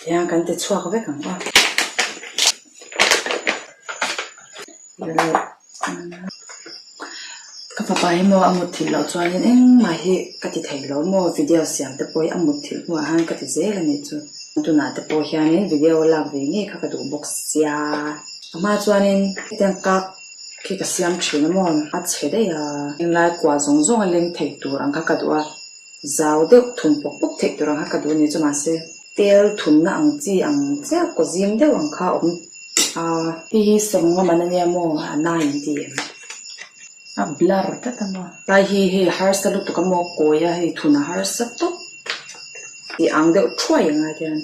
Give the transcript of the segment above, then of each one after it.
Tiang kan ti chhuak vek ang a. Ka fapa hi maw a mut thilh loh chuanin engmah hi ka ti thei lo maw video siam te pawh hi a mut thilh hnuah hian ka ti zel a nih chu. Tunah te pawh hianin video a lak ve ngei kha ka duh bawk sia. A hma chuanin hetiang kak khi ka siam thin a maw a che daih a. Heng lai kuah zawng zawng a leng thei tur ang kha ka duh a. Zau deuh thun pawk pawk theih tur ang kha ka duh ani chu mahse tel thunna ang chi ang chiah kaw zim deuh ang kha awm a. Hei hi sawng lamah na nia maw a na in ti em? A blur tlat a maw? Tlai hi hei harsa lutuk a maw kawi a hei thun a harsa tawp tih ang deuh thuai ang a hian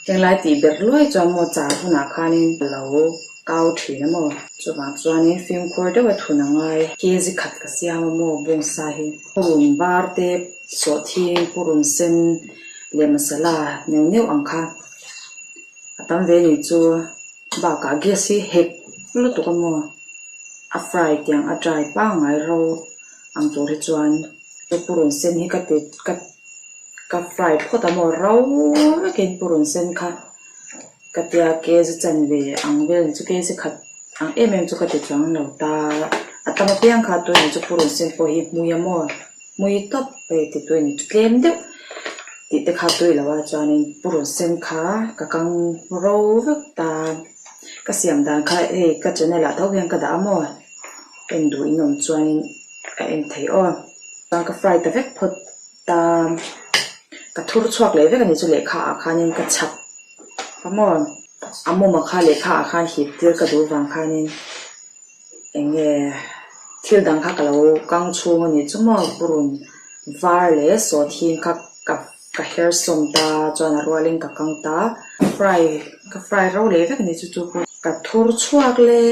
heng lai tih ber luai chuan maw char hunah khanin a lo. kau thin a maw? Chuvang chuanin fimkhur deuha thun a ngai. Kezi khat ka siam a maw bung sa hi? Purun var te sawh thin purun sen leh masala neuh neuh ang kha a tam ve ni chu. Bakah gas hi hek lutuk a maw? A fry tiang a dry pangngai ro ang tur hi chuan chu purun sen hi ka ti ka fry phawt a maw? Rau vekin purun sen kha. Ka tia ke zu chan ve ang velin chu kei zakhat ang em em chu ka ti chuang lo ta. A tam apiang kha Tuini chu purun sin pawh hi hmui a maw? Hmui tawp hei ti Tuini chu tlem deuh tih te kha tui lo a chuanin purun sen kha ka kang ro vek ta. Ka siam dan kha hei ka channel ah tho hian ka dah a maw? Enduh inawm chuanin a en thei aw. Chuan ka fry ta vek phawt. Ka ka thur chhuak leh vek a nih chu lehkha ah khanin ka chhak ka maw a mum ah kha lehkha ah khan hip tir ka duh vang khanin eng nge thil dang kha ka lo kang chhung a nih chu maw purun var leh sawt hing kha ka ka her sawm ta chuan a rual in ka kang ta fry ka fry rau leh vek a nih chu chu pawh ka thur chhuak leh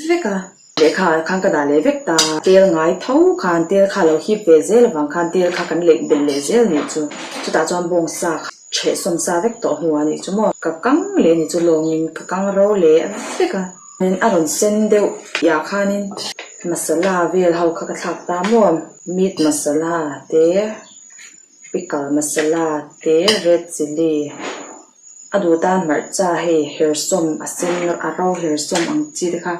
vek a. Lehkha khan ka dah leh vek ta. Tel ngai tho khan tel kha lo hip ve zel avang khan tel kha kan leih bel leh zel nih chu. Chutah chuan bawng sa kha chheh sawm sa vek tawh hnu ah nih chu maw. Ka kang leh nih chu lawng in ka kang ro leh vek a. Nen a rawn sen deuh tih ah khan in masala vel ho kha ka thlak ta maw. Meat masala te, pickle masala te, red chilli. a duh tan hmarcha hei herhsawm a sen a ro herhsawm ang chi te kha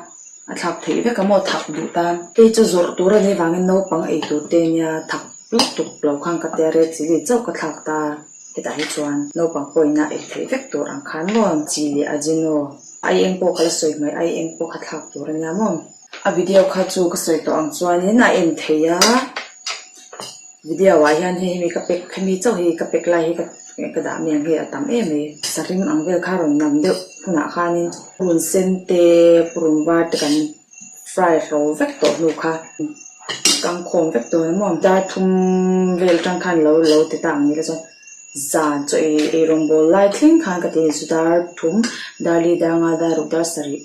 a thlak theih vek a maw thak duh tan. Kei chu zawrh tur a ni avangin naupang ei tur te nia thak lutuk tuk lo khan ka tia red chili chauh ka thlak ta hetah hi chuan naupang pawh ina ei theih vek tur ang khan maw chi leh a zin aw ai eng pawh ka la sawi hmai ai eng pawh kha thlak tur a nia maw. a video kha chu ka sawi tawh ang chuanin a en thei a video ah hian hei hemi ka pack hemi chauh hi ka pack lai hi ka ka dah miang hi a tam em mai a saree rim ang vel kha rawn nam deuh hunah khanin purun sen te purun var te kan fry hlo vek tawh hnu kha kangkhawm vek dawn a maw dar thum vel atang khan lo lo ti ta ang ni le chuan zan chaw ei ei rawngbawlh lai thleng khan ka ti a ni chu dar thum dar li dar nga dar uk dar sarih.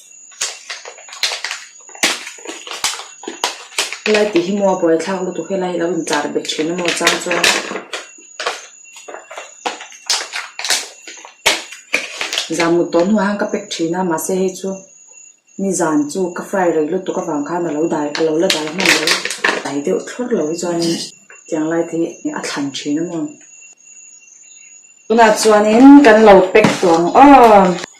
helai tih hi maw a buai thlak lutuk hi a laiah hi a lo intlar bet thin a maw chang chuan zan mut dawn hnuaiah hian ka pack thin a mahse hei chu ni zan chu ka fry rei lutuk avang khan a lo dai a lo la dai hman lo dai deuh thlur lo hi chuanin tiang lai te hi a thlan thin a maw tunah chuanin kan lo pack tawh ang aw.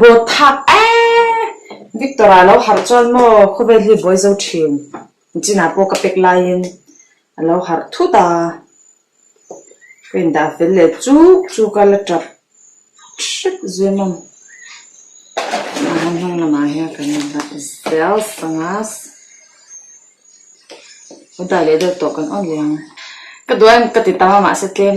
Bawthak eehh! Victor ah lo harh chuan maw khawvel hi buai zo thin. Gina pawh ka pek laiin a lo harh thut a, ka indah fel leh chuk chuk a la tap hrep zui mawm. Mahna hnung lamah hian kan indah zel sanga udah leh deuh tawh kan awrh leh ang. Ka duai ang ka ti tam a mahse tlem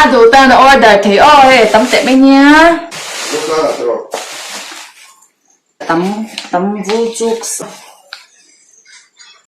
A dawhtan a order thei aw he tam teh mai nia. Dawhkan ah tawrh. Tam tam vu chuk sa.